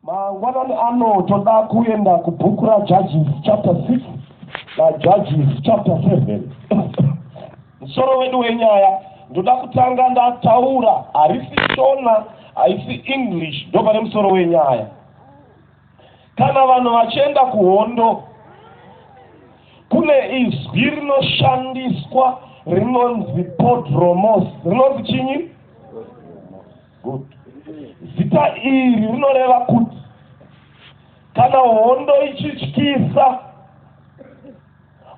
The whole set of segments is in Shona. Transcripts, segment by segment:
Mangwanani ano toda kuenda kubhuku raJudges chapter 6 naJudges chapter 7. Musoro wedu wenyaya ndoda kutanga ndataura, harisi Shona, haisi English, ndopane musoro wenyaya. Kana vanhu vachienda kuhondo, kune izwi rinoshandiswa rinonzi podromos, rinonzi chinyi? Good. Zita iri rinoreva kuti kana hondo ichityisa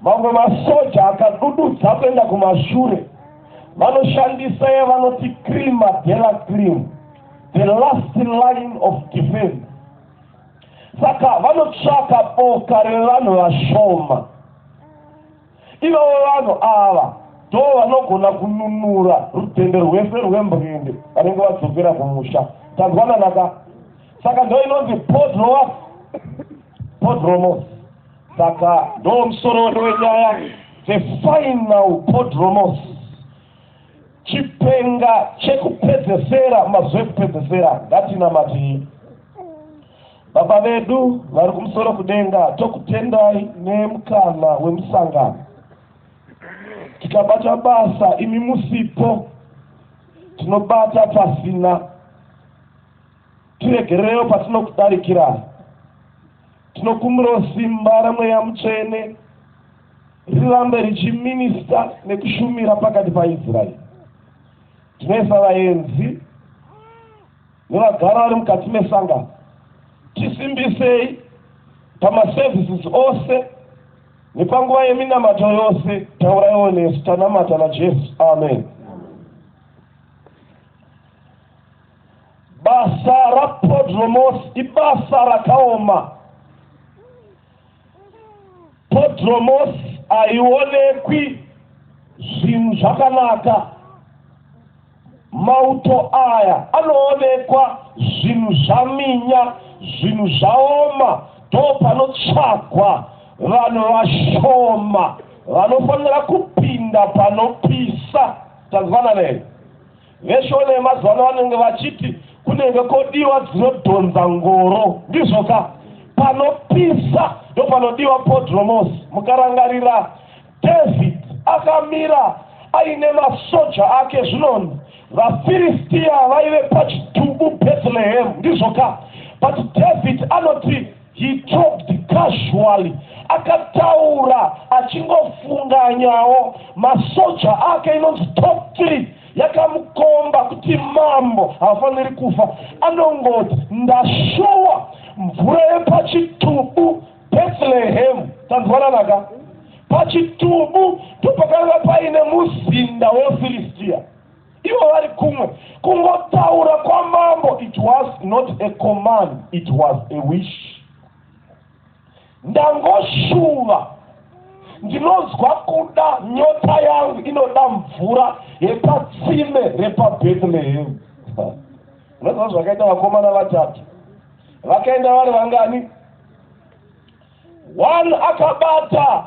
mamwe masoja akadududza kuenda kumashure vanoshandisa yevanoti crima dela crim the last line of defense saka vanotsvaka boka revanhu vashoma Ivavo vanhu ava ndoo vanogona kununura rutende rwese rwembwende vanenge vadzokera kumusha. Tanzwanana ka? Saka ndoo inonzi podromos. Podromos. Saka ndoo musoro wedu wenyaya the final podromos. Chipenga chekupedzesera mazuva ekupedzesera ngatinamatii. Baba vedu vari kumusoro kudenga, tokutendai nemukana wemusangano. Tikabata basa imi musipo, tinobata pasina. Tiregererewo patinokudarikirayi. Tinokumbirawo simba ramweya mutsvene rirambe richiminista nekushumira pakati paIsraeri. Tinoisa vaenzi Nevagari vari mukati mesangano, tisimbisei pamaservices ose nepanguva yeminamato yose. Tauraiwo nesu. Tanamata naJesu. Amen. Basa raPodromos ibasa rakaoma. Podromos haionekwi zvinhu zvakanaka. Mauto aya anoonekwa zvinhu zvaminya, zvinhu zvaoma, ndopanotsvagwa vanhu vashoma vanofanira kupinda panopisa. Tanzwanana here? VeShona yemazuva ano vanenge vachiti kunenge kodiwa dzinodhonza ngoro, ndizvo ka? Panopisa ndopanodiwa podromos. Mukarangarira, David akamira aine masoja ake, zvinonzi vaFiristia vaive pachitubu Bethlehem, ndizvo ka? But David anoti He talked casually, akataura achingofunganyawo. Masoja ake inonzi top three yakamukomba kuti mambo haafaniri kufa. Anongoti ndashuwa mvura yepachitubu Bethlehem. Tanzwananaka? Pachitubu ndipo pakanga paine muzinda weFilistia. ivo vari kumwe kungotaura kwamambo it was not a command it was a wish ndangoshuva ndinonzwa kuda nyota yangu inoda mvura yepatsime repabethlehem unoziva zvakaita vakomana vatatu vakaenda vari vangani One akabata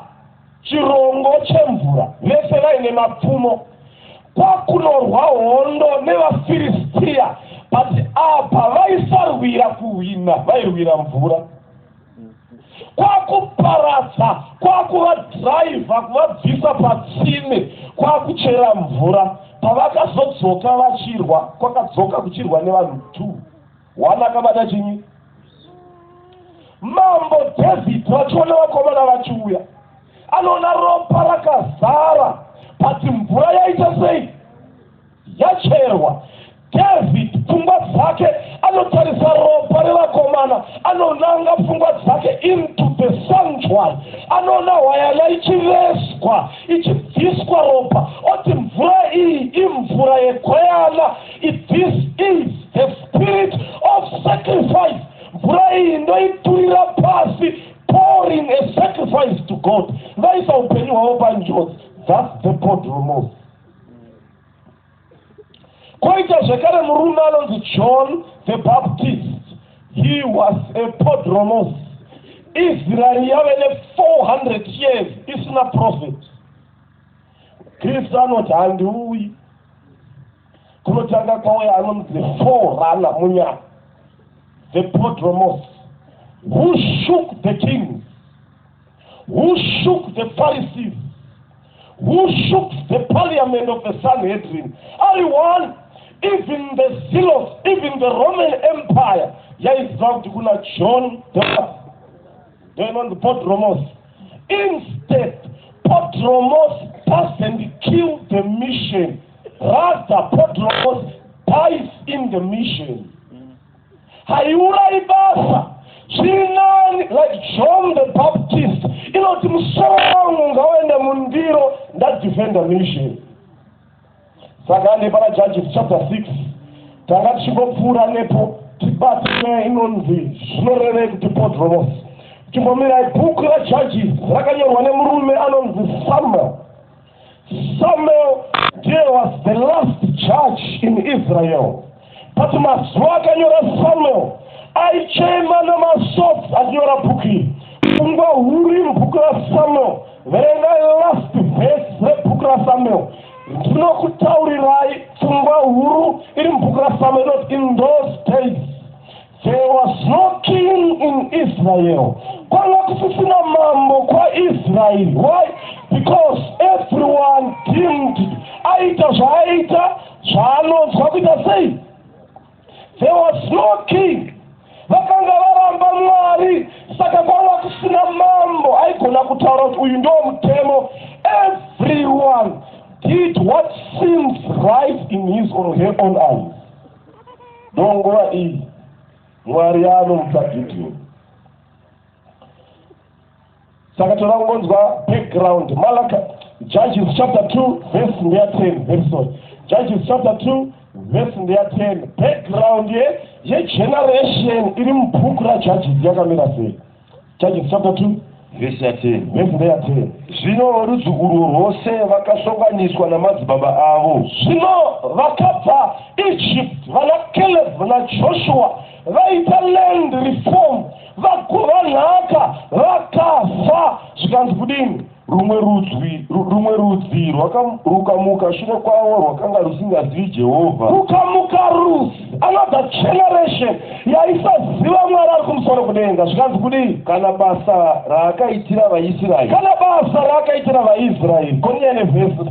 chirongo chemvura vese vaine mapfumo kwakunorwa hondo nevafiristia but apa vaisarwira kuhwina vairwira mvura kwakuparadza kwakuvadhiraivha kuvabvisa patsime kwakuchera mvura pavakazodzoka vachirwa kwakadzoka kuchirwa nevanhu two Wana akabata chinyi? Mambo David vachiona vakomana vachiuya, anoona ropa rakazara pati mvura yaita sei yacherwa. David pfungwa dzake anotarisa ropa revakomana, anonanga pfungwa dzake into the sanctuary, anoona hwayana ichivezwa ichibviswa ropa, oti mvura iyi imvura yegweyana If this is the spirit of sacrifice, mvura iyi ndoiturira pasi, pouring a sacrifice to God. Vaisa upenyu hwavo panjodzi. That's the God remove. Koita zvekare murume anonzi John the Baptist. He was a podromos. Israel yave ne 400 years isina prophet. kristu anoti handiuyi kunotanga kwauya anonzi forana munyama the podromos who shook the kings who shook the pharisees who shook the parliament of the sanhedrin ari one even the zealous even the roman empire yaiziva kuti kuna john the Vainonzi Podromos. Instead, Podromos doesn't kill the mission. Rather, Podromos dies in the mission. Haiurai basa. Zvirinani, like John the Baptist, inoti musoro wangu ngawaenda mundiro ndadefenda mission. saka ande pana judges chapter 6 tanga tichingopfuura nepo tibati nyaya inonzi zvinorevei kuti podromos chimbomirai bhuku rajudges rakanyorwa nemurume anonzi samuel samuel ndiye was the last judge in israel But mazuva akanyora Samuel aichema namasodzi achinyora bhuku iri. Pfungwa huru iri bhuku raSamuel. Verengai last verse rebhuku raSamuel. Ndinokutaurirai pfungwa huru iri mubhuku raSamuel inoti in those days There was no king in Israel. Kwanga kusisina mambo kwaIsrael. Why? Because everyone deemed aita zvaaita zvaanonzwa kuita sei. There was no king. Vakanga varamba Mwari saka kwanga kusina mambo aigona kutaura kuti uyu ndiwo mutemo. Everyone did what seems right in his or her own eyes. Munguva iyi Mwari anomutsa Gideon. Saka toda kungonzwa background Malaka Judges chapter 2 verse ndeya 10 very sorry. Judges chapter 2 verse ndeya 10 background ye ye generation iri mubhuku raJudges yakamira sei? Judges chapter 2 vhesi ya 10 vhesi ndeya 10 zvino rudzukuru rwose vakasonganiswa namadzibaba avo zvino vakabva egypt vana caleb najoshua vaita land reform vagova nhaka vakafa zvikanzi kudini Rumwe rudzi, rumwe rudzi rwakamuka shure kwavo rwakanga rusingazivi Jehovha. Kukamuka rudzi, another generation, yaisaziva Mwari ari kumusoro kudenga. Zvikanzi kudii? Kana basa raakaitira vaIsraeri. Kana basa raakaitira vaIsraeri. Konyene vhesi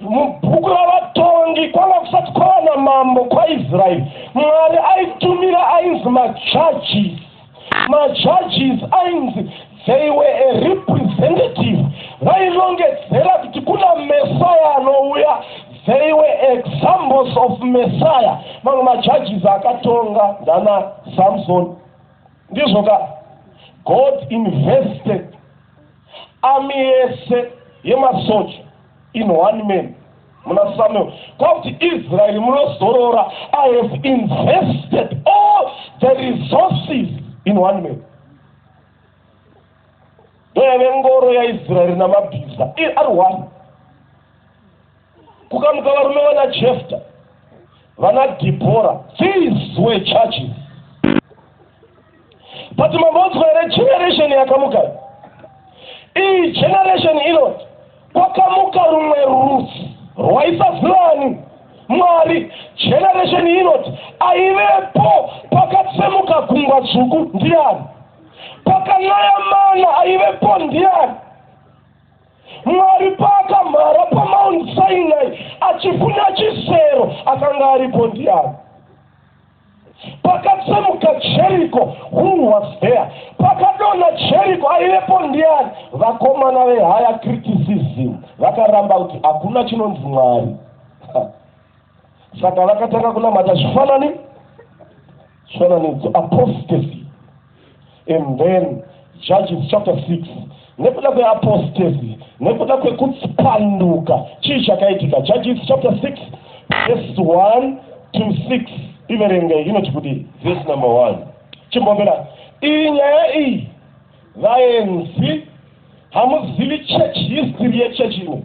Mubhuku raVatongi kwanga kusati kwava namambo kwaIsraeri, Mwari aitumira ainzi majudges. Majudges ainzi they were a representative, vairongedzera kuti kuna Messiah anouya. They were examples of Messiah. Mamwe majudges akatonga ndana Samson. Ndizvo ka God invested Army yese yemasoja in one man muna Samuel kwakuti Israel munozorora I have invested all the resources in one man ndoyave ngoro yaIsrael namabhiza ari one Kukamuka varume vana Jefta, vana Dhibhora, these were churches. But mambodzwa here generation yakamuka iyi generation inoti kwakamuka rumwe rudzi rwaisazivani mwari generation inoti aivepo pakatsemuka gungwa dzvuku ndiani pakanaya mana aivepo ndiani Mwari paakamhara paMount Sinai achifuna chisero akanga aripo ndiani? Pakatsemuka Jeriko, who was there? Pakadonha Jeriko aivepo ndiani? Vakomana vehaya criticism vakaramba kuti hakuna chinonzi Mwari. Saka vakatanga kunamata zvifanani. Chifananidzo, apostasy. And then Judges chapter 6 nekuda kweapostasy nekuda kwekupanduka chii chakaitika Judges chapter 6 verse 1 to 6 iverengei inoti kudii verse number 1 chimbombera iyi nyaya iyi vaenzi hamuzivi church history yechurch ino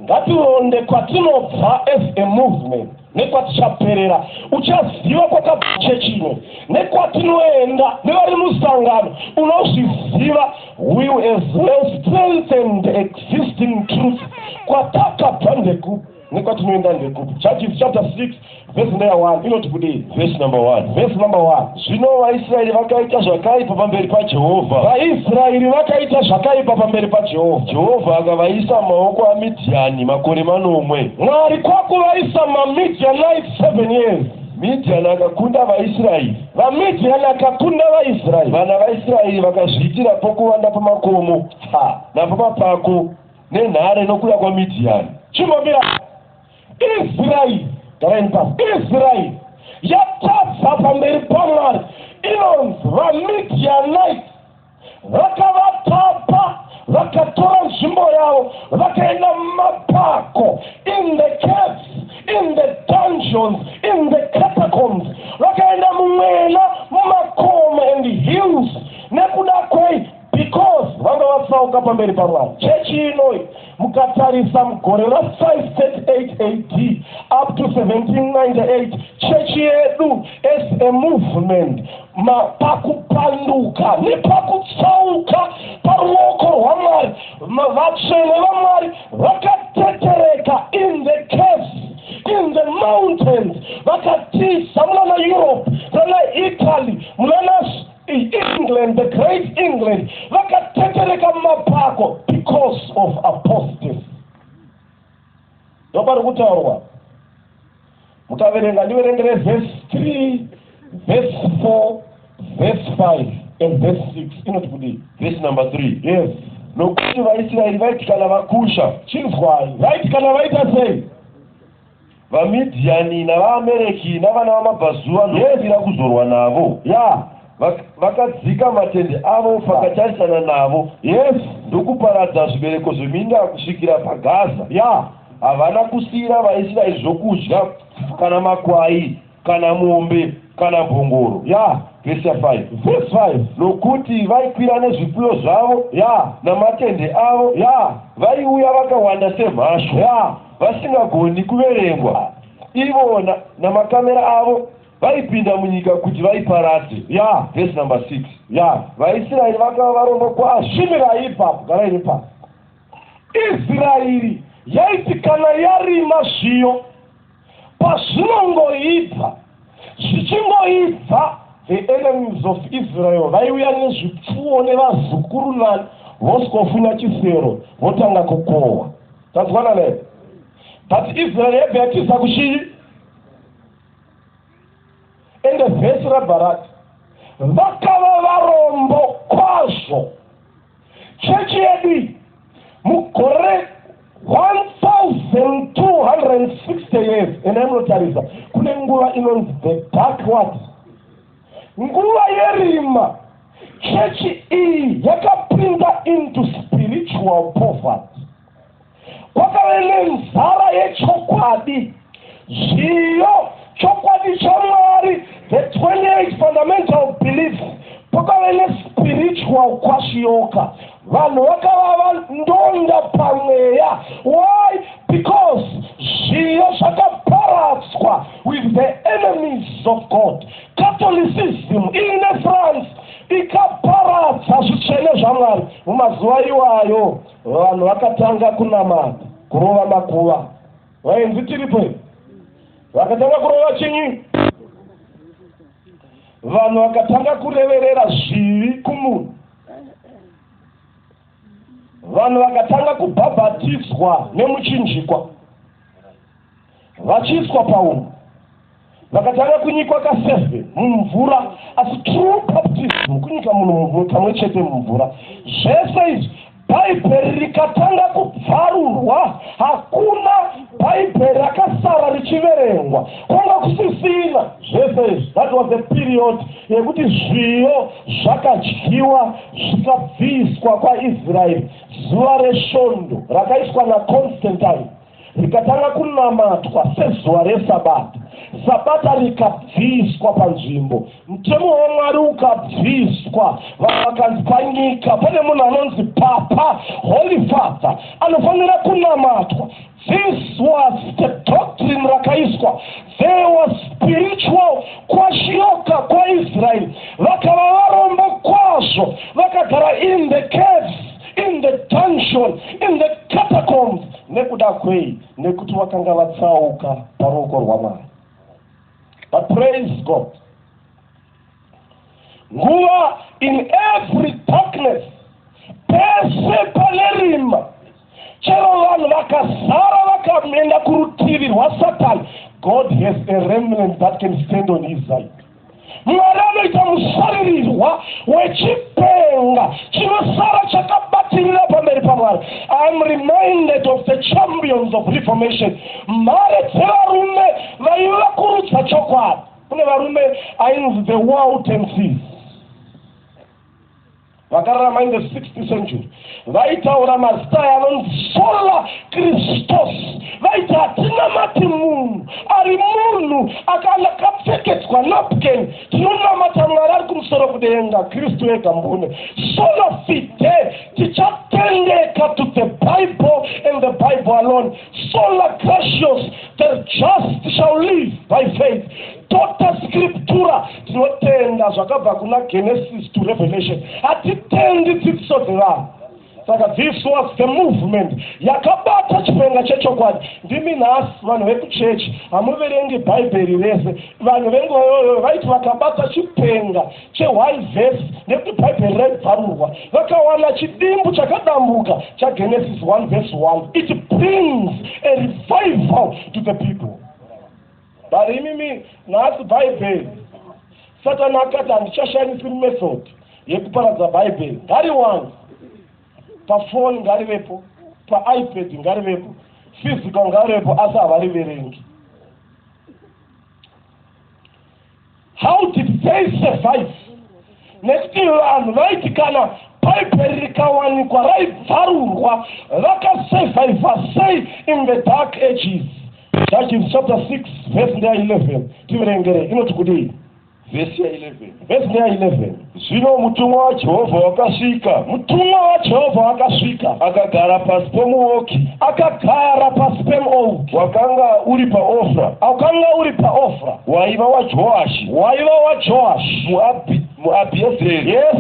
Ngatironde kwatinobva as a movement nekwatichaperera. Uchaziva kwakabva chechi ino nekwatinoenda nevari musangano unozviziva. We as well strengthen the existing truth kwatakabva ndekupi nekwatinoenda ndekupi. Judges chapter 6 Vhesi mbeya 1 inoti kudii? Vhesi namba 1. Vhesi namba 1. Zvino vaIsraeri vakaita zvakaipa pamberi paJehovha. VaIsraeri vakaita zvakaipa pamberi paJehovha. Jehovha akavaisa mumaoko aMidhiani makore manomwe. Mwari kwakuvaisa maMidhianite 7 years. Midhiani akakunda vaIsraeri. VaMidhiani akakunda vaIsraeri. Vana vaIsraeri vakazviitira pokuvanda pamakomo ha, napamapako nenhare nokuda kwaMidhiani. Chimbomirai. Israeri, garai pasi, Israeri yatadza pamberi paMwari inonzi vaMidianite vakavatapa vakatora nzvimbo yavo vakaenda mumapako in the caves in the dungeons in the catacombs vakaenda mumwena mumakomo and hills nekuda kwei Because vanga vatsauka pamberi paMwari. Chechi inoi mukatarisa mugore ra 538 AD up to 1798 chechi yedu as a movement ma pakupanduka nepakutsauka paruoko rwaMwari ma- vatsvene vaMwari vakatetereka in the caves in the mountains vakatiza munana Europe munana Italy munana England, the great England, vakatetereka mumapako because of apostasy. Ndopari kutaurwa. Mukaverenga ndiverengere verse 3, verse 4, verse 5 and verse 6 inoti kudii? Verse number 3. Yes. Nokuti vaIsraeri vaiti kana vakusha. Chinzwai. Vaiti kana vaita sei? VaMidhiani navaAmereki navana vamabvazuva ndokumbira kuzorwa navo. Ya, vak, vakadzika matende avo pakatarisana navo. Yes. Ndokuparadza zvibereko zveminda kusvikira paGaza. Ya, havana kusiyira vaIsraeri zvokudya kana makwai. kana mombe kana mbongoro ya vese 5 vese 5 nokuti vaikwira nezvipfuyo zvavo ya namatende avo ya vaiuya vakawanda semhasho ya vasingagoni kuverengwa ivo namakamera avo vaipinda munyika kuti vaiparadze ya vese number 6 ya vaisraeri vakava varombo kwazvo shimirai ipapo garai ipapo israeri yaitikana yarima zviyo Pazvinongoibva, zvichingoibva, the enemies of Israel vaiuya nezvipfuwo nevazukuru nani vosikofunya chisero votanga kukohwa. Tazwana ne? But Israel yabva yatiza kuchii? Ende vhesi rabva rati vakava varombo kwazvo. Chechi yedu iyi mugore 1260 years ena inotarisa kune nguva inonzi the dark what nguva yerima chechi iyi yakapinda into spiritual poverty kwakave nenzara yechokwadi, zviyo, chokwadi chaMwari, the 28 fundamental beliefs, kwakave nespiritual kwashiyoka. Vanhu vakava vandonda pamweya. Why? Because zviyo zvakaparadzwa with the enemies of God. Catholicism ine France ikaparadza zvitsvene zvaMwari mumazuva iwayo. Vanhu vakatanga kunamata kurova makuva. Vaenzi tiripo here? Vakatanga kurova chinyi? Vanhu vakatanga kureverera zvivi kumunhu. Vanhu vakatanga kubhabhatiswa nemuchinjikwa. Vachiiswa paunhu vakatanga kunyikwa kaseve mumvura asi true baptism kunyika munhu mumvura kamwe chete mumvura zvese izvi bhaibheri rikatanga kubvarurwa hakuna bhaibheri rakasara richiverengwa kwanga kusisina zvese izvi that was a period yekuti zviyo zvakadyiwa zvikabviswa kwaisraeri zuva resvondo rakaiswa naconstantine rikatanga kunamatwa sezuva resabata, sabata rikabviswa panzvimbo, mutemo waMwari ukabviswa. Vanhu vakanzi panyika pane munhu anonzi papa, holy father, anofanira kunamatwa. This was the doctrine rakaiswa. There was spiritual kwashiyoka kwaIsrael. Vakava varombo kwazvo, vakagara in the caves, in the dungeon, in the catacombs. Nekuda kwei? Nekuti vakanga vatsauka paruoko rwaMwari. But praise God. Nguva in every darkness pese pane rima chero vanhu vakazara vakaenda kurutivi rwasatani god has a remnant that can stand on his side Mwari anoita musaririrwa wechipenga chinosara chakabatirira pamberi paMwari. I am reminded of the champions of reformation, mhare dzevarume vaivakurudza chokwadi. Kune varume ainzi the Waldenses. vakararama in the 6th century vaitaura mazita aya anonzi sola kristos vaiti hatinamati munhu ari munhu akanakapfekedzwa napken tinonamata mwari ari kumusoro kudenga kristu ega mbune sola fide tichatendeka to the bible and the bible alone sola gracios the just shall live by faith tota scriptura tinotenda zvakabva kuna genesis to revelation hatitendi dzidziso dzevanhu saka this was the movement yakabata chipenga chechokwadi ndimi nhasi vanhu vekuchechi hamuverengi bhaibheri rese vanhu vengoyoyo vaiti vakabata chipenga cheone vhesi nekuti bhaibheri raibvarurwa vakawana chidimbu chakadambuka chagenesis 1 vhesi 1 it brings a revival to the people But imimi nhasi Bhaibheri Satani akati handichashandisi method yekuparadza Bhaibheri ngariwane pafoni ngarivepo paipad ngarivepo physical ngarivepo asi havariverengi How did they survive? Nekuti vanhu vaiti kana bhaibheri rikawanikwa raibvarurwa vakasurviva sei in the dark ages judges chapter 6 vhesi ndeya 11 tiverengere inoti kudii vhesi ya 11 vhesi ndeya 11 Zvino mutumwa waJehovha wakasvika. Mutumwa waJehovha wakasvika. Akagara pasi pomuoki. Akagara pasi pemuoki. Wakanga uri paOfra. Wakanga uri paOfra. Waiva waJoashi. Waiva waJoashi. Muabhi, muAbhiezeri. Yes.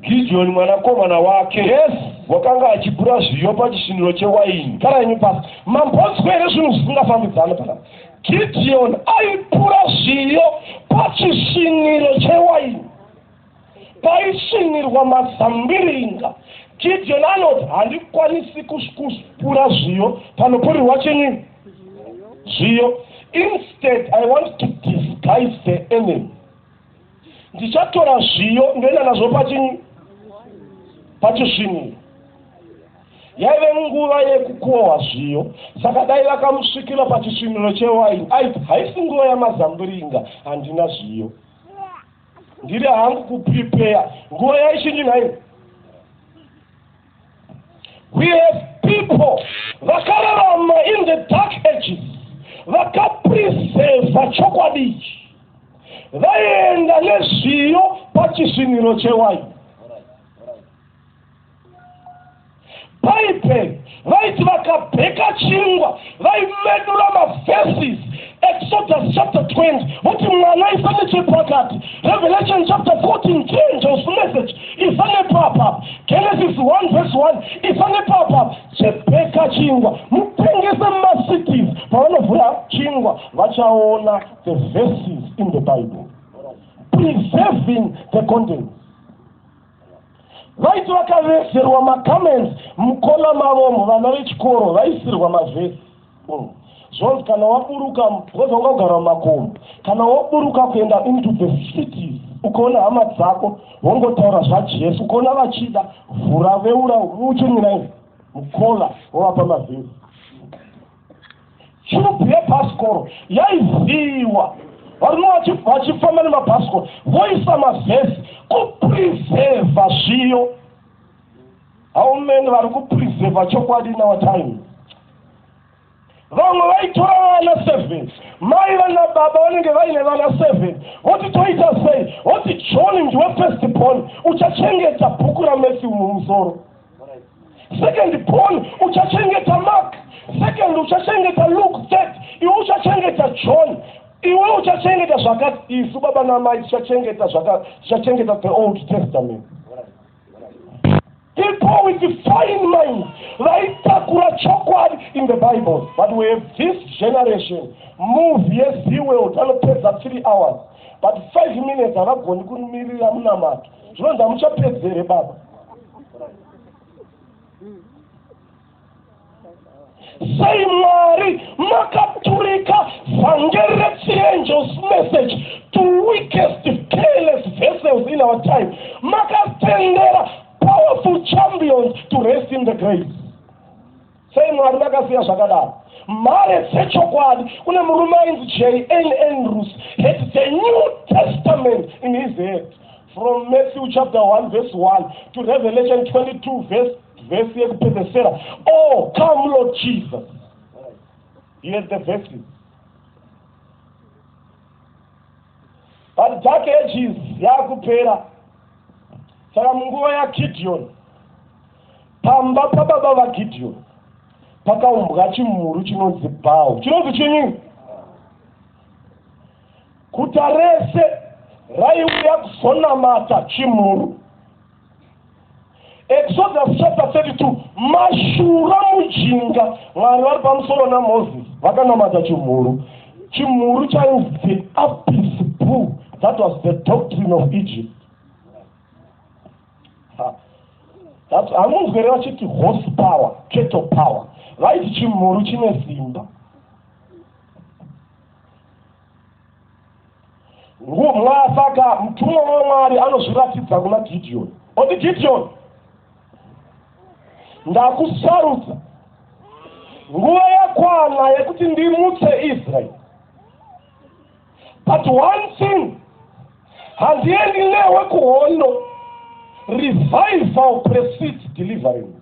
Gideoni mwanakomana wake. Yes. Wakanga achipura zviyo pachisviniro chewaini. Gara imi pasi. Mambonzwa here zvinhu zvisingafambidzani pakati? Gidhiyoni aipura zviyo pachisviniro chewaini paisvinirwa mazambiringa. Gidhiyoni anoti, Handikwanisi kupura zviyo panopurirwa chinyi? Zviyo. Instead, I want to disguise the enemy. ndichatora zviyo ndoenda nazvo pachini pachisviniro yaive nguva yekukohwa zviyo saka dai vakamusvikira pachisviniro chewaini aiti haisi nguva yamazambiringa handina zviyo ndiri hangu kuprepeya nguva yaichinji nhaini We have people vakararama in the dark ages vakapreseva chokwadi ichi vaienda nezviyo pachisviniro chewaini bhaibheri vaiti vakabheka chingwa vaimedura maverses exodus chapter 20 voti mwana aisa nechepakati revelation chapter 14 changes message isa nepapa genesis 1 verse 1 isa nepapa chibheka chingwa mutengese macities pavanovhura chingwa vachaona the verses in the bible preserving the contents Vaiti vakaveserwa macomments mukona mavomo vana vechikoro vaisirwa mavhesi mm. zvonzi kana waburuka because wanga kugara mumakomo kana waburuka kuenda into the cities ukaona hama dzako wongotaura zvajesu ukaona vachida vhura veura muche nyina izi mukola wovapa mavhesi churubhu yebhasikoro yaivhiiwa varume vachifamba nemabhasikoro voisa mavhesi kuprevhevha zviyo haumeni vari kuprevhevha chokwadi nawatime vamwe vaitora vana seven mai vana baba vanenge vaine vana seven voti toita sei voti john ndiwe first born uchachengeta bhuku ramethi mumusoro second born uchachengeta mark second uchachengeta luke third iwe uchachengeta john iwe uchachengeta zvakati isu baba namai tichachengeta zvakati tichachengeta the old testament people with the fine mind vaitakura chokwadi in the bible but we have this generation move yezeweld anopedza three hours but five minutes havagoni kumirira munamato zvinonzi hamuchapedzi here baba sei mwari makaturika vhangeri rechiangels message to weakest careless vessels in our time makatendera powerful champions to rest in the grace Sei Mwari vakasiya zvakadaro? Mhare dzechokwadi, kune murume ainzi J. N. Andrews had the New Testament in his head from Matthew chapter 1 verse 1 to Revelation 22 verse verse yekupedzesera oh come lord jesus yes the verses but dark ages yakupera saka munguva yakidion pamba pababa vagidhiyoni pakaumbwa chimhuru chinonzi bhawu chinonzi chinyi guta rese raiuya kuzonamata chimhuru exodus chapter 32 mashura mujinga mwari vari pamusoro namoses vakanamata chimhuru chimhuru chainzi the apis bull that was the doctrine of egypt hamunzwere vachiti horse power keto power vaiti chimhuru chine simba ngumwa saka mutumwa wamwari anozviratidza kuna gidiyoni oti gidiyoni ndakusarudza nguva yakwana yekuti ndimutse israeri but one thing handiendi newe kuhondo revival precedes deliverance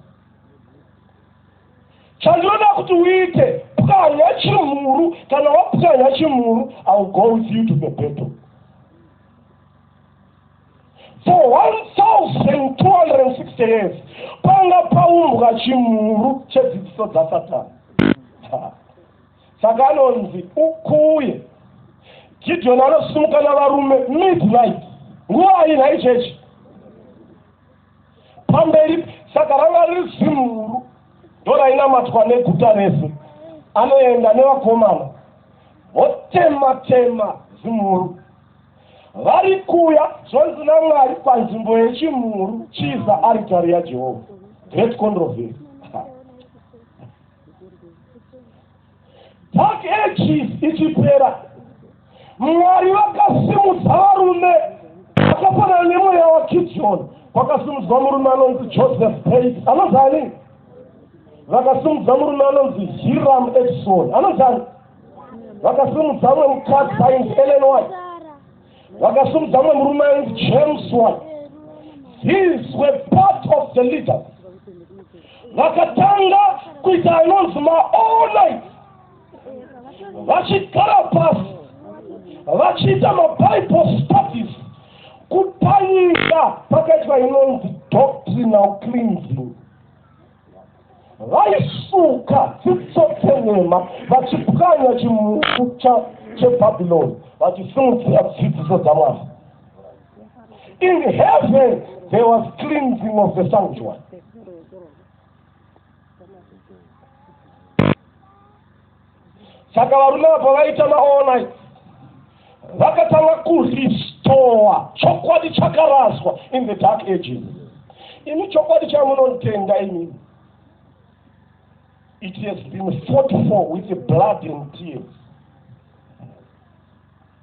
chandinoda kuti uite pwanya chimhuru kana wapwanya chimhuru ill go with you to the battle for 1260 years panga paumbwa chimhuru chedzidziso dzasatani saka anonzi ukuye gideoni anosimuka navarume midnight nguva ayi nhai chechi pamberi saka ranga riri zimhuru ndorainamatwa neguta rese anoenda nevakomana votema tema zimhuru vari kuya zvonzi namwari panzvimbo yechimhuru chiza aritari yajehovha great controversy dark ages ichipera mwari vakasimudza varume vakafanana nemweya wakidioni kwakasimudzwa murume anonzi joseph pait anozani vakasimudza murume anonzi hiram edison anozani vakasimudza mwe mukadzi ainzi ellen white Vakasumudza mumwe murume ainzi James White. These were part of the leaders. Vakatanga kuita anonzi maonai vachigara pasi vachiita mabible studies kupanyika pakaitwa inonzi doctrinal cleansing vaisuka dzitsotse nhema vachipwanya chimuku chebhabhiloni vachisimudzira dzidziso dzamwari in heaven there was cleansing of the sanctuary saka varume ava pavaita maall night vakatanga kurestore chokwadi chakaraswa in the dark ages imi chokwadi chamunotenda imimi it has been fought for with blood and tears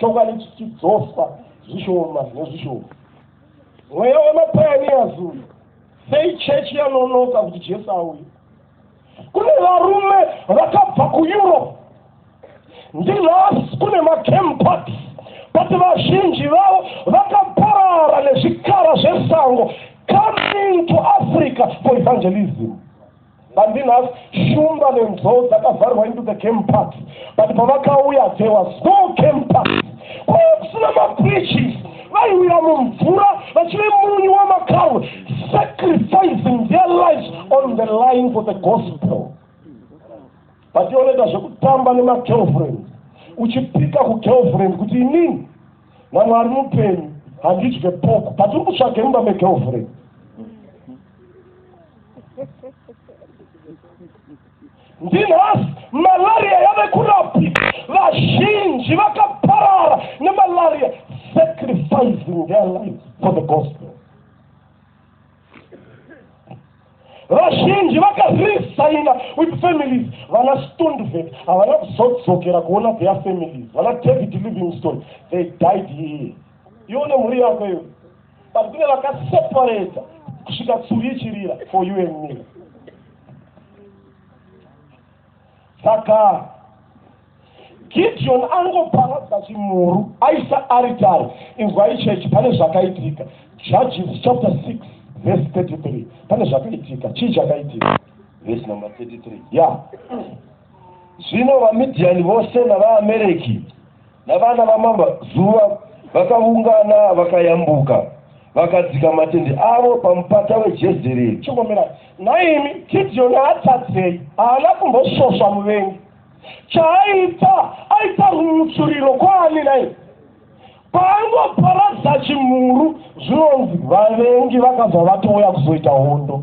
chokwadi chichidzoswa zvishoma nezvishoma mweya wemapayaniyazi uyu sei chechi yanonoka kuti jesu auye kune varume vakabva kueurope ndinhasi kune macampat but vazhinji vavo vakaparara nezvikara zvesango coming to africa for evangelism Bandinas Shumba nenzou dzakavharwa into the game park but pavakauya there was no game park kwaiva kusina mabridges vaiwira mumvura vachive munyu wamakaru sacrificing their lives on the line for the gospel but ioneta zvekutamba nemagirlfriend uchipika kugirlfriend kuti inini namwari mupenyu handidye poku but uri kutsvage mumba megirlfriend ndinhasi malaria yave kurapi vazhinji vakaparara nemalaria sacrificing their lives for the gospel vazhinji vakaresaina with families vana stondvet havana kuzodzokera kuona their families vana david livingstone they died here ione mhuri yako iyo but kune vakaseparata kusvika tsuri ichirira for you and me saka gideon angoparadza chimhuru aisa aritari inzwai chechi pane zvakaitika judges chapter 6 verse 33 pane zvakaitika chii chakaitika verse number 33 ya yeah. zvino vamidiani vose navaamereki Navana vamama zuva vakaungana vakayambuka vakadzika matende avo pamupata wejezereri chingomira nhaimi gidhiyoni haatadzei haana kumbosvosva muvengi chaaita aita rumutsvuriro kwaani nai paangoparadza chimhuru zvinonzi vavengi vakabva vatouya kuzoita hondo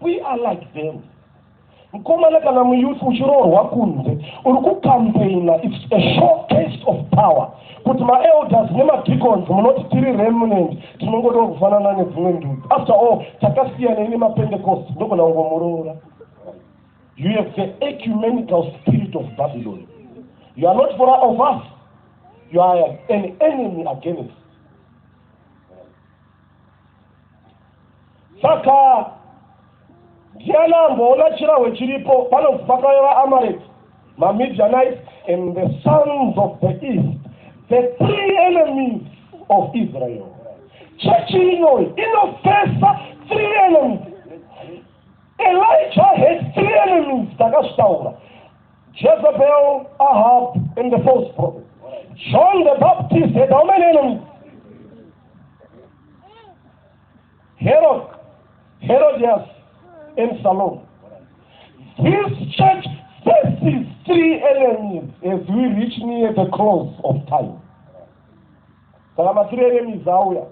We are like them. Mkomana kana muyouth uchiroorwa kunze uri kucampaigna its a short taste of power kuti maelders nemadeacons munoti tiri remnant tinongoda kufanana nedzimwe ndudzi after all takasiyanei nemapentecost ndogona kungomuroora you have the ecumenical spirit of babylon you are not for of us you are an enemy against saka ndiani amboona chirahwe chiripo panonzi pakave vaamareki mamidianite and the sons of the east the three enemies of israel chechi inoyi inofesa three enemies elijah had three enemies takazvitaura jezebel ahab and the false prophet john the baptist had how many enemies Herod, Herodias, and Salome. This church faces three enemies as we reach near the close of time. Saka matiri enemies auya.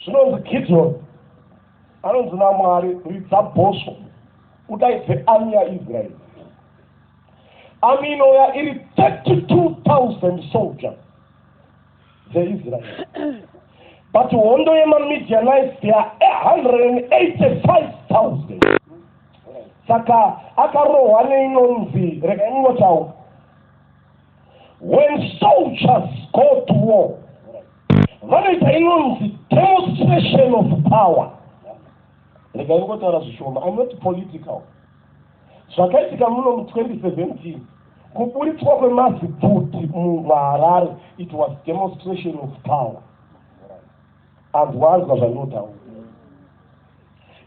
Zvinonzi Gideon anonzi naMwari ridza bhosvo udaidze army yaIsraeri. Army inouya iri 32,000 soldiers dzeIsrael. But hondo yemaMidianites they are 185,000. Saka akarohwa neinonzi regai ndinotaura. When soldiers go to war vanoita inonzi demonstration of power. Regai ngotaura zvishoma. I'm not political. Zvakaitika muno mu 2017 kuburitswa kwemazibhuti muHarare it was demonstration of power. Anzwanzwa zvandinotaura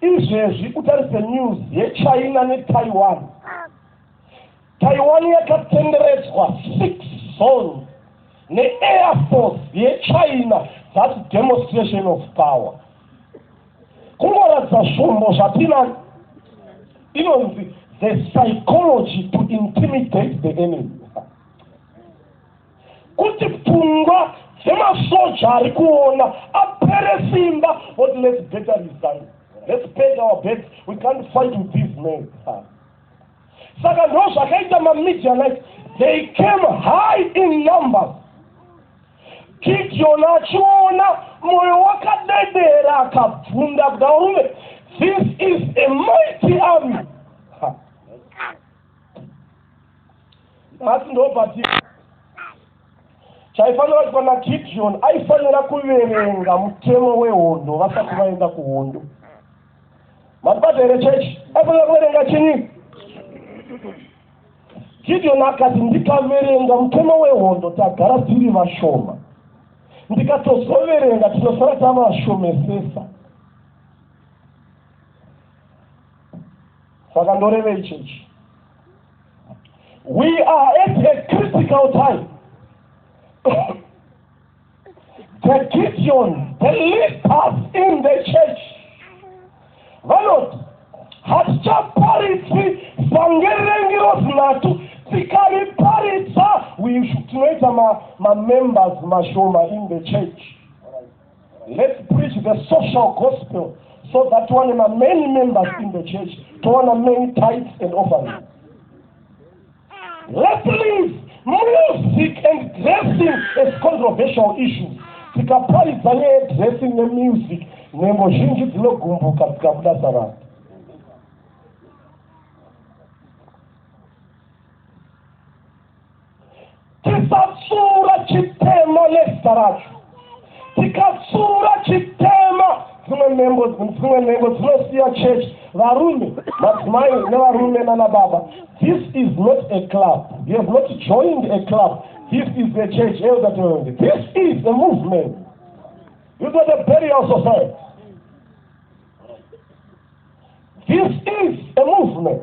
izvezvi utarise news yechina netaiwan taiwan yakatenderedzwa six zones neair force yechina thats demonstration of power kungoratidza zvombo zvatinani inonzi the psychology to intimidate the enemy kuti pfungwa dzemasoja ari kuona apere simba what let's better resign let's pay our beds we can't fight with these men Saka ndozvakaita maMidianite, they came high in numbers. Gideon achiona moyo wakadedera akabvunda kuda varume, this is a mighty army. Nhasi ndobatika chaifanira kuitwa naGideon aifanira kuverenga mutemo wehondo vasati vaenda kuhondo. Mabata here chechi? Afanira kuverenga chinyi? Gideon akati ndikaverenga mutemo wehondo tagara tiri vashoma. Ndikatozoverenga tinosara tavashomesesa. Saka ndorevei chechi? We are at a critical time. The Gideon, the leaders in the church, vanoti hatichaparidzi sangerengi rozinatu tikariparidza tinoita mamembers ma mashoma in the church let's preach the social gospel so that one ma many members in the church towana many types and offerings Leslie's music and dressing as controversial issues. Tikaparidza nyaya yedressing nemusic, nhengo zhinji dzinogumbuka dzikabuda savanhu. Tisatsuura chitema nezita racho. Tikatsuura chitema dzimwe nhengo dzimwe nhengo dzinosiya church varume madzimai nevarume nana baba this is not a club you have not joined a club this is a church elder tonge this is a movement you got a burial society this is a movement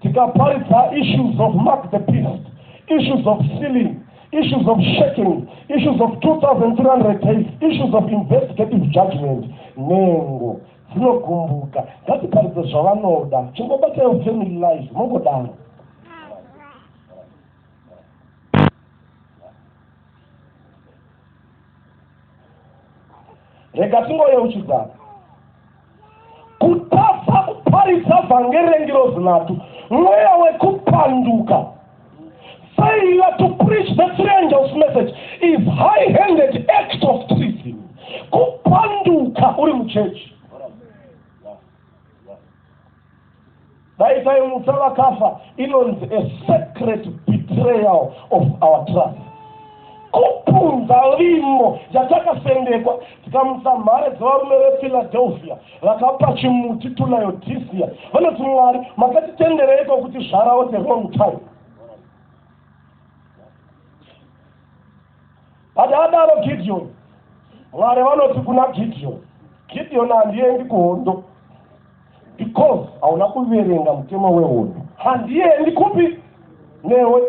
tikaparidza issues of mark the beast issues of sealing issues of shaking issues of 2300 days issues of investigative judgment nengo dzinogumbuka ngatiparidze zvavanoda chingobataiwo family life mongodaro rega tingoyeuchidzana kutadza kuparidza vhangeri rengirozi nhatu mweya wekupanduka failure to preach the three angels message is high handed act of treason kupanduka uri muchechi dai taimutsa vakafa inonzi a secret betrayal of our trust kupunza vimbo yatakasendekwa tikamutsa mhare dzevarume vephiladelphia vakapa chimuti tunayodhisiya vanoti mwari makatitendereiko kuti zvarawo the wrong time Padaadaro Gidhiyoni, Mwari vanoti kuna Gidhiyoni, Gidhiyoni handiendi kuhondo because hauna kuverenga mutemo wehondo. Handiendi kupi newe.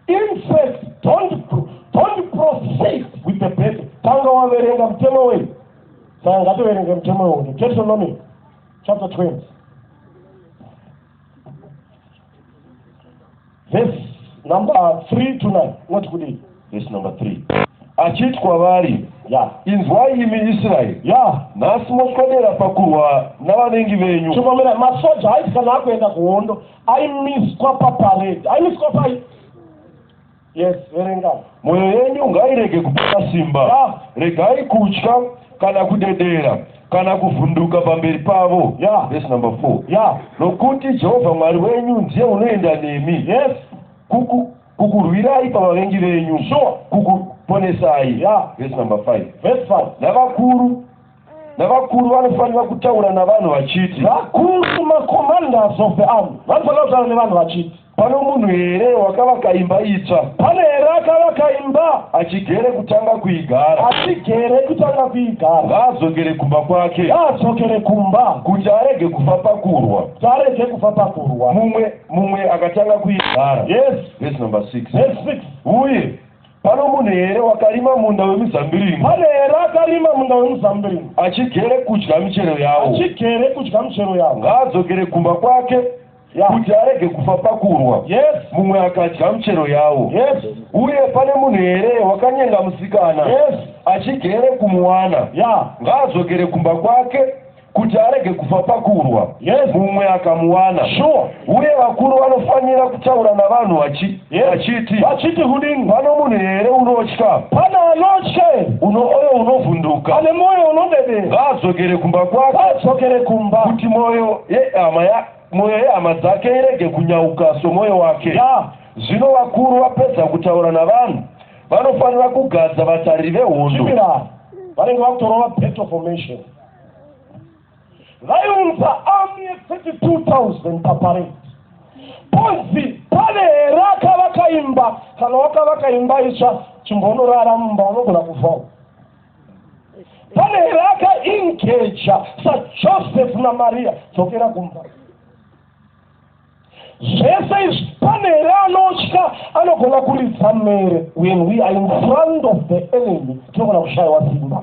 In fact, don't, don't proceed with the battle. Tanga waverenga mutemo wei. Saka ngatoverenga mutemo wehondo. Deuteronomy chapter 20. vhesi number 3 to 9 unoti kudii vhesi number 3 achiti kwavari ya inzwai imi israeri ya nhasi moswedera pakurwa navanengi venyu chomamira masoja haiti kana akuenda kuhondo aimiswa paparedi aimiswa pai Yes, verenga. Mwoyo yenyu ngairege kupera simba. Yeah. Regai kutya kana kudedera kana kuvhunduka pamberi pavo. Yeah. Verse number 4. Yeah. Nokuti Jehovha Mwari wenyu ndiye unoenda nemi. Yes. Kuku kukurwirai pavavengi venyu. Sure. Kukuponesai. Yeah. Verse number 5. Verse 5. Navakuru navakuru vanofanira kutaura navanhu vachiti vakuru macommanders of the army vanofanira kutaura nevanhu vachiti Pano munhu here wakavaka imba itsva? Pane here akavaka imba? Achigere kutanga kuigara. Achigere kutanga kuigara. Ngaadzokere kumba kwake. Ngaadzokere kumba. Kuti arege kufa pakurwa. Kuti arege kufa pakurwa. Mumwe mumwe akatanga kuigara. Yes. Verse number 6. Verse 6. Uye pano munhu here wakarima munda wemizambiringa pane here akarima munda wemizambiringa achigere kudya michero yawo achigere kudya michero yawo ngaadzokere kumba kwake kuti arege kufa pakurwa mumwe akadya muchero yawo uye pane munhu here wakanyenga musikana achigere kumuwana ngaadzokere kumba kwake kuti arege kufa pakurwa mumwe akamuwana uye vakuru vanofanira kutaura navanhu vachi Yes. Vachiti. Vachiti kudini? Pano munhu here unotya? Pana anotya here? Uno oyo unovhunduka. Ane moyo unodede. Ngaadzokere kumba kwake. Ngaadzokere kumba. Kuti moyo yehama ya moyo yehama dzake irege kunyauka somoyo wake. Ya. Zvino vakuru vapedza kutaura navanhu vanofanira kugadza vatariri vehondo. Chimira. Vanenge vakutorova battle formation. vaiunza army ye 32000 paparade ponzi pane here akavaka imba kana wakavaka imba itsva chimbonorara mumba unogona kuvhawo pane here akaingeja sajoseph namariya dzokera kumba zvese izvi pane here anotya anogona kuridza mhere when we are in front of the enemy tinogona kushayiwa simba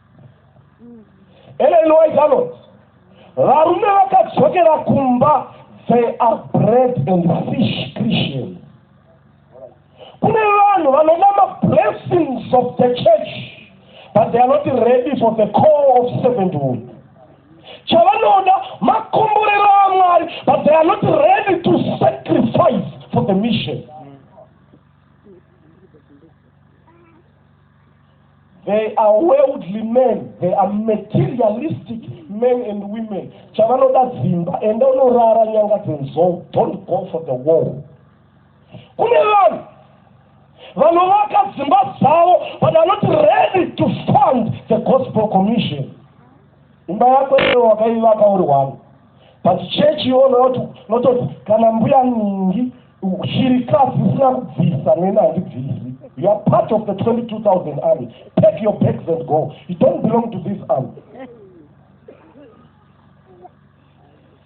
ellen white anoti varume vakadzokera kumba they are bread and fish christian kune vanhu vanoda mablessings of the church but they are not ready for the call of servanthood chavanoda makomborero amwari but they are not ready to sacrifice for the mission They are worldly men, they are materialistic men and women. Chavanoda dzimba, enda unorara nyanga dzenzou, don't go for the war. Kune vanhu vanovaka dzimba dzavo but are not ready to fund the gospel commission. Imba yako iyo wakaivaka uri wani but church iyono yoti kana mbuya ningi Shirikadzi isina kubvisa neni handibvisi. You are part of the 22,000 army. Pack your bags and go. You don't belong to this army.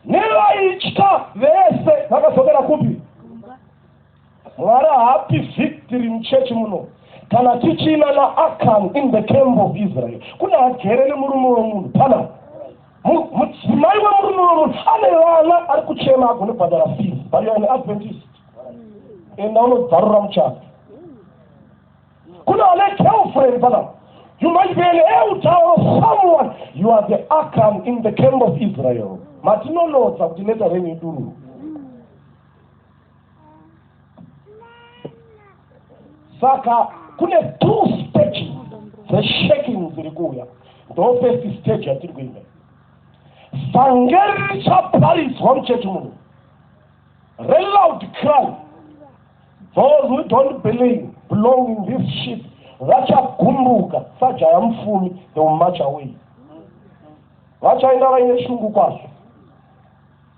Nevaitya vese vakadzokera kupi? Mwari haapi victory muchechi muno kana tichina naAkan in the camp of Israel. Kuna agere nemurume wemunhu pana mudzimai wemurume wemunhu ane vana ari kuchema agone kubhadhara fees but you're an adventist enda unobvarura muchaka kune vane girlfriend pana you might be an elder or someone you are the akan in the camp of israel matinonotsa kuti neta renyu idururu saka kune two stages dzeshaking dziri kuuya ndo first stage yatiri kuenda vhangeri richaparidzwa muchechi muno reloud cry those who don't believe belong in this ship vachagumbuka sajaya mufumi they will march away vachaenda vaine shungu kwazvo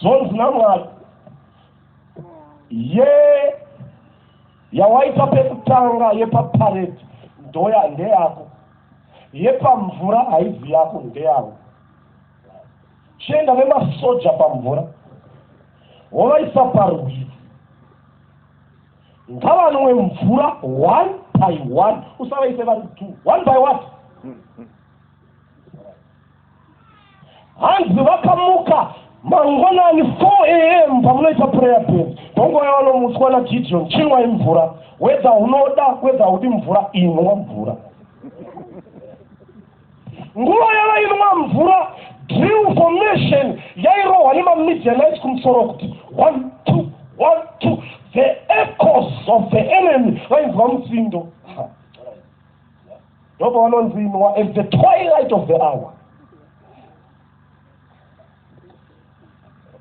Zvonzi naMwari, ye yawaita pekutanga yepapareti ndoya ndeyako, yepamvura haizi yako ndeyavo. Chienda nemasoja pamvura wovaisa parwizi ngavanwe mvura one by one usavaise vari two one by one hanzi vakamuka mangwanani 4 am pamunoita prayer band panguva yavanomutswa nagideon chinwai mvura wedza unoda wedza udi mvura inwa mvura nguva yavainwa mvura drill formation yairohwa nemamidianite kumusoro kuti one two one two the ecos of the enemy vainzwa mutsindo Ndobva vanonzi inwa at the twilight of the hour.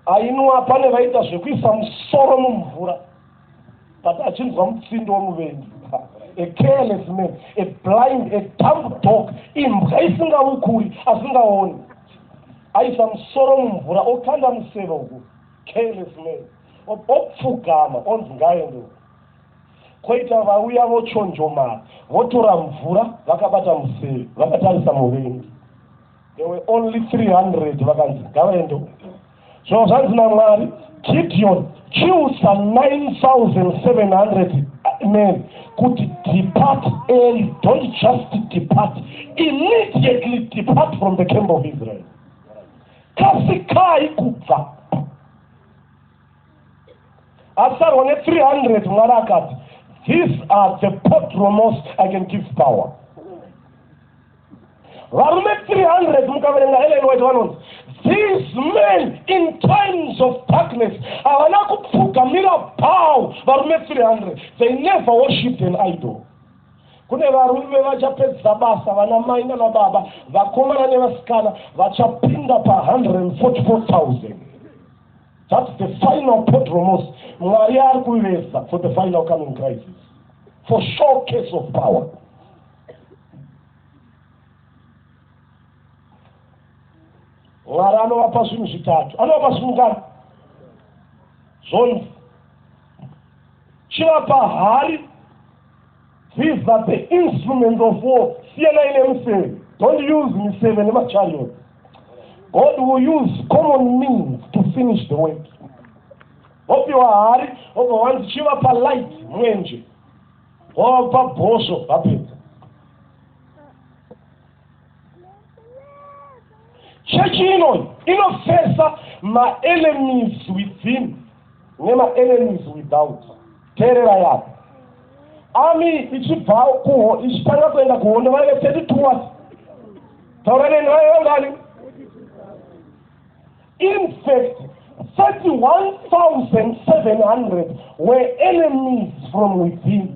Ainwa pane vaita zvekuisa musoro mumvura but achinzwa mutsindo wemuvengi a careless man a blind a dumb dog imbwa isingavukuri asingaoni aisa musoro mumvura okanda museve uku careless man opfugama onzi ngaende uku Koita vauya vochonjomara, votora mvura vakabata museve, vakatarisa muvengi. There were only 300 vakanzi ngavaende uko. Zvino zvanzi naMwari, Gideon, chiusa 9,700 men kuti depart early, don't just depart, immediately depart from the camp of Israel. Kasikai kubva asarwa ne 300 mwari akati these are the potromos i can give power varume 300 mukaverenga ellen white vanonzi these men in times of darkness havana kupfugamira bhaw varume 300 they never worshipped an idol kune varume vachapedzisa basa vana mai nana baba vakomana nevasikana vachapinda pa 144000 That's the final podromos. Mwari ari kuvesa for the final coming crisis. For showcase of power. Mwari anovapa zvinhu zvitatu. Anovapa zvinhu ngani? Zvonzi. Chivapa hari These are the instruments of war. Siyanai nemiseve. Don't use miseve nemachariot. God will use common means to finish the work. Vopiwa hari, vobva vanzi chivapa light mwenje. Wavapa bhosvo vapedza. chechi ino inofesa maenemies within nemaenemies without teerera yapo ami ichibva kuho ichitanga kuenda kuhondo vaive thirty two wat taura neni vaive ngani in fact thirty one thousand seven hundred were enemies from within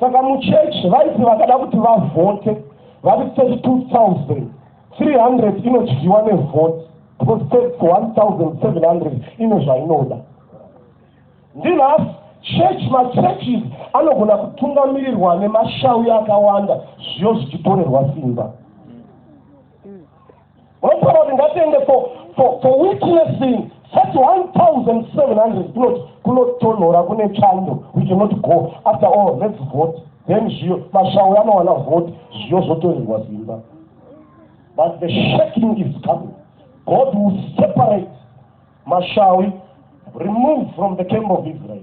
saka muchechi vaiti vakada kuti vavhote vari 32300 inodyiwa nevhoti because tax 1700 ine zvainoda ndinhasi church machurches anogona kutungamirirwa nemashauya akawanda zviyo zvichitorerwa simba vanotaura kuti ngatiende for witnessing 31700 kunotonhora kune chando we cannot go after all let's vote then zviyo mashauri anowana vote zviyo zvotorerwa zimba but the shaking is coming god will separate mashawi removed from the camp of israel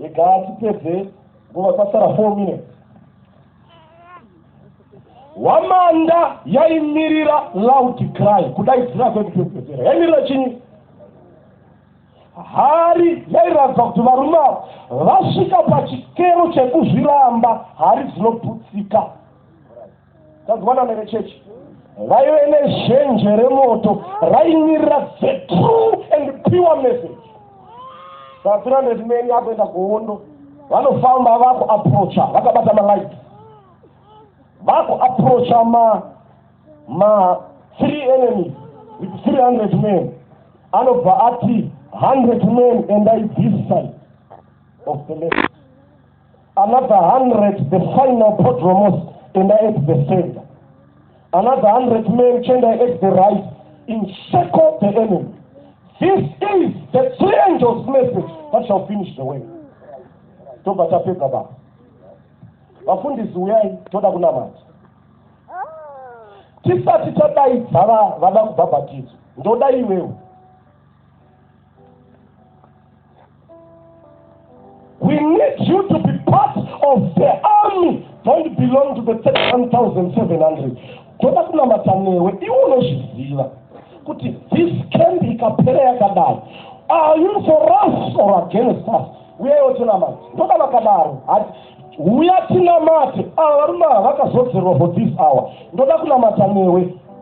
regaa tipedze nguva kwasara four minutes hwamanda yaimirira loud cry kudaidzira kwekupedzera yaimirira chinyi hari yairatidza kuti varume ava vasvika pachikero chekuzviramba hari dzinoputsika Tazwana nevechechi vaive nezhenje remoto raimirira the true and pure message vapira ndezimeni akuenda kuhondo vanofamba vaku aprocha vakabata malight vaku aprocha ma ma three enemies with 300 men anobva ati 100 men endai this side of the left Another hundred the final podromos and I ate the center. Another hundred men change I ate the rice in circle the enemy. This is the three angels message that shall finish the way. Tobva tapedza baba. Vafundisi uyai toda kunamata. Tisati tadaidza vada kubhabhatidzwa. Ndoda iwewe. We need you to be part of the army don't belong to the 31700 toda kunamata newe iwe unozviziva kuti this camp ikapera yakadai are you for us or against us uyewo tinamati ndoda vakadaro hati uya tinamati ava varume ava vakazodzerwa for this hour ndoda kunamata newe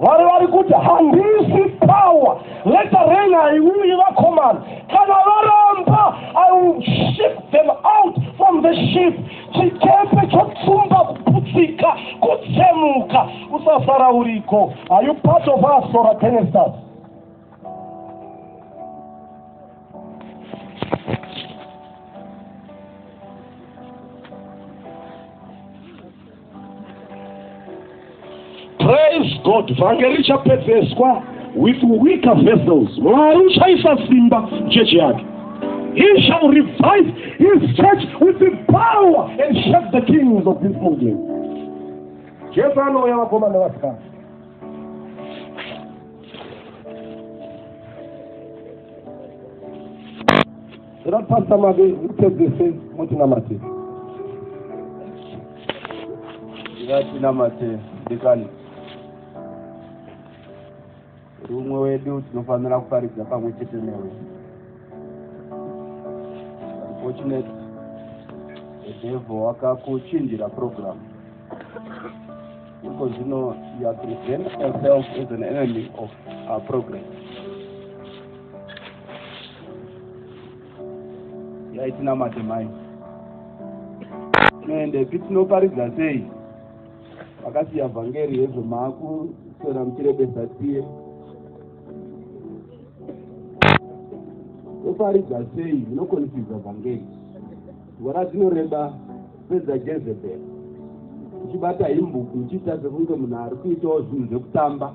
mwari vari kuti handisi power let the rain haiuyi vakomana kana varamba i will ship them out from the ship chikepe chotsumba kuputsika kutsemuka usasara uriko are you part of us or against us Praise God. Vhangeri richapedzeswa with weaker vessels. Mwari uchaisa simba chechi yake. He shall revive his church with the power and shake the kings of this kingdom. Jesu anouya vakoma nevasikana. Zera Pastor Mabe, you take the stage, mutinamate. Ngatinamate, dikani. Rumwe wedu tinofanira kuparidza pamwe chete newe. Unfortunately, the devil wakakuchinjira program. Because you know, you are presenting yourself as an enemy of our progress. yaitinamate mai tinoende pi tinoparidza sei vakasiya vhangeri yezvo maakuswera muchirebesa tiye toparidza sei inokonifidza vhangeri ngora dzinoreba pedza jezebheri uchibata himbuku uchiita sekunge munhu ari kuitawo zvinhu zvekutamba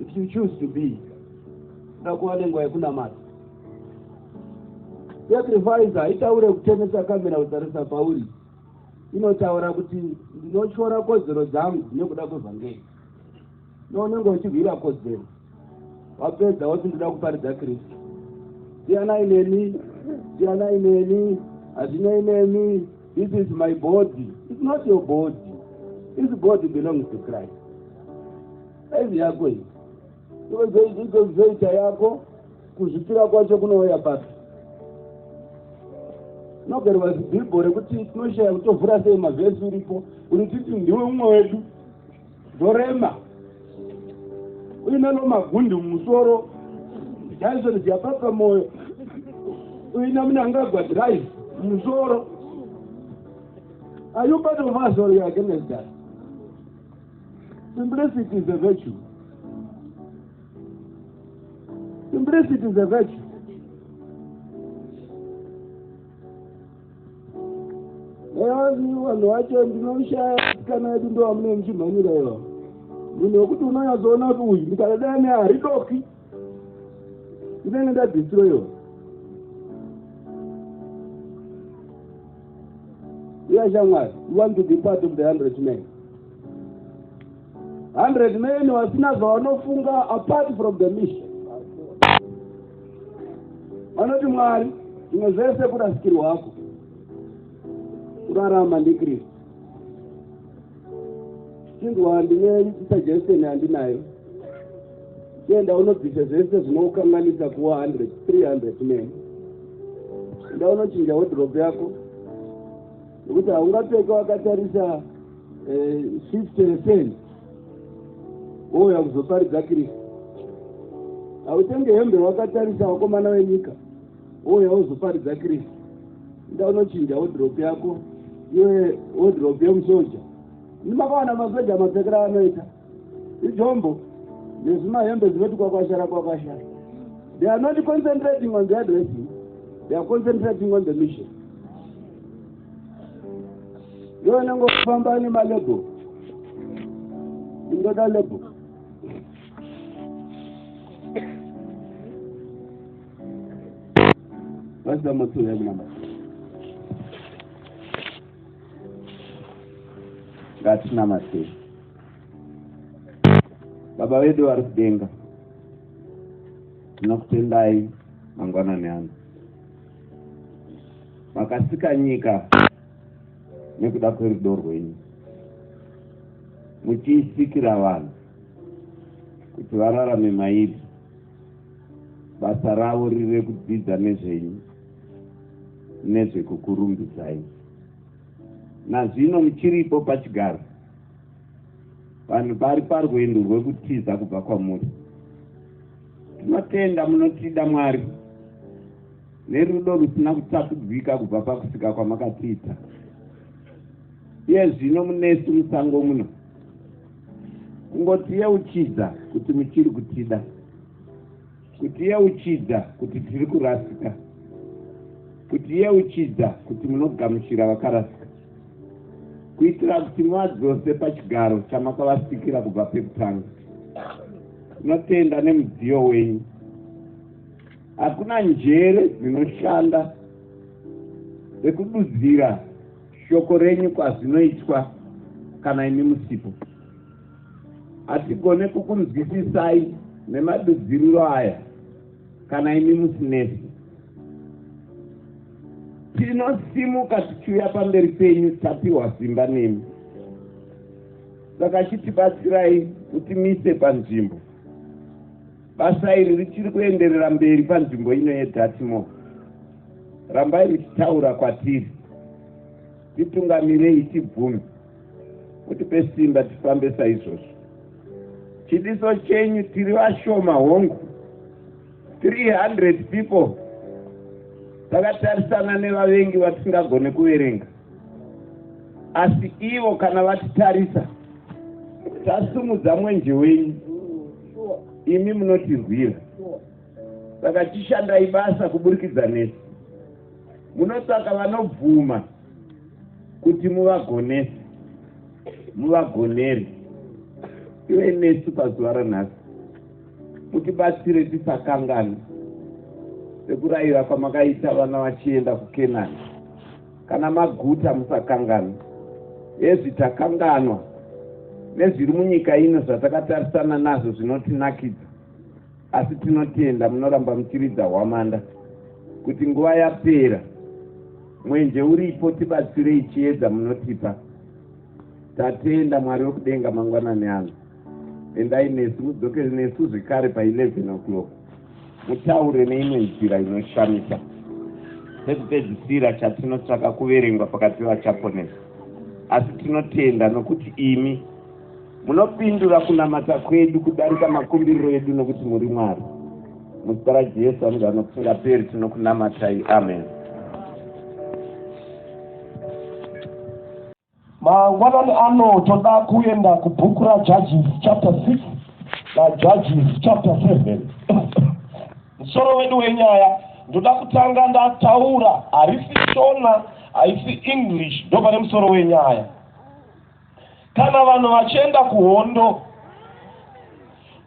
if you choose to be ndakuva nenguva yekunamata sacrifice haitaure kutemesa kamera kutarisa pauri inotaura kuti ndinotyora kodzero dzangu nekuda kwevhangeri nounenge uchirwira kodzero wapedza woti ndinoda kuparidza kristu siyanai neni siyanai neni hazvinei nemi This is my body. It's not your body. This body belongs to Christ. Saizi yako iyi. Ikozoita yako kuzvipira kwacho kunouya papi? Nogerwa zibhibho rekuti tinoshaya kutovhura sei mavhesi uripo. Uri titi ndiwe umwe wedu. Ndorema. Uine lo magundi mumusoro. Jason Jababa moyo. Uine munangagwa drive mumusoro. Are you part of us or you are against us? Simplicity is a virtue. Simplicity is a virtue. Yazi vanhu vacho ndinoshaya kana yedu ndo vamune muchimhanyira iva munhu wekuti unonyazoona kuti uyu ndikadadana ne haridoki ndinenge ndadhistroyiwa uyashamwari you want to be part of the hundred man 100 men vasina zvavanofunga apart from the mission vanoti mwari zvimwe zvese kurasikirwa hako kurarama ndikristu chinzwa ndine suggestion yandinayo enda unobvisa zvese zvinokanganisa kuwa hundred three hundred men enda unochinja wedrop yako nekuti haungapfeka wakatarisa eh, shift refen wouya kuzoparidza kristu hautenge hembe wakatarisa wakomana wenyika wouya wozoparidza kristu ida unochinja wodrop yako iwe wodrop yemusoja ndimakawana masoja mapfekera anoita idzombo nezvimahembe zvinoti kwakwashara kwakwashara they are not concentrating on their dressing they are concentrating on the mission yo unenge ufamba nemalebo indoda lebo vasida matsuo yakunamba ngatinamaseyi baba vedu vari kudenga tinokutendai mangwanani ano makasika nyika nekuda kwerudo rwenyu muchiisikira vanhu kuti vararame mairi basa ravo rire kudzidza nezvenyu nezvekukurumbidzai nazvino muchiripo pachigaro vanhu vari parwendo rwekutiza kubva kwamuri tinotenda munotida mwari nerudo rusina kutapudzika kubva pakusika kwamakatiita iye zvino munesu musango muno kungotiyeuchidza kuti muchiri kutida kutiyeuchidza kuti tiri kurasika kutiyeuchidza kuti munogamuchira vakarasika kuitira kuti muvadzose pachigaro chamakavasikira kubva pekutanga tinotenda nemudziyo wenyu hakuna njere dzinoshanda dzekududzira shoko renyu kwazvinoitwa kana imi musipo hatigone kukunzwisisai nemadudziriro aya kana imi musinesi tinosimuka tichiuya pamberi penyu tapiwa simba nemi saka chitibatsirai kuti mise panzvimbo basa iri richiri kuenderera mberi panzvimbo ino yedatimo rambai richitaura kwatiri titungamirei tibvume mutipe simba tifambe saizvozvo chidiso chenyu tiri vashoma hongu 300 people takatarisana nevavengi vatisingagone kuverenga asi ivo kana vatitarisa tasumudza mwenje wenyu imi munotirwira saka tishandai basa kuburikidza nesu munotsvaka vanobvuma kuti muvagonese muvagonere ive nesu pazuva ranhasi mutibatsire tisakangani sekurayira kwamakaita vana vachienda kukenani kana maguta musakangani ezvi takanganwa nezviri munyika ino zvatakatarisana nazvo zvinotinakidza asi tinotenda munoramba muchiridza hwamanda kuti nguva yapera mwenje uripo tibatsirei chiedza munotipa tatenda mwari wekudenga mangwanani ano endai nesu mudzoke nesu zvekare pa 11 o'clock mutaure neimwe nzira inoshamisa sekupedzisira chatinotsvaka kuverengwa pakati vachaponesa asi tinotenda nokuti imi Munopindura kunamata kwedu kudarika makumbiriro edu nokuti muri Mwari. Muzita raJesu anogara nokusingaperi tinokunamatai. Amen. Mangwanani ano toda kuenda kubhuku raJudges chapter 6 naJudges chapter 7. Musoro wedu wenyaya ndoda kutanga ndataura harisi Shona haisi English ndopane musoro wenyaya. Kana vanhu vachienda kuhondo,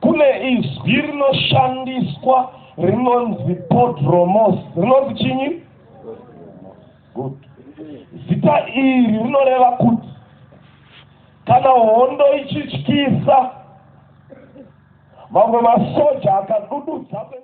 kune izwi rinoshandiswa rinonzi podromos. Rinonzi chinyi? Good. Zita iri rinoreva kuti kana hondo ichityisa, mamwe masoja akadududza kuenda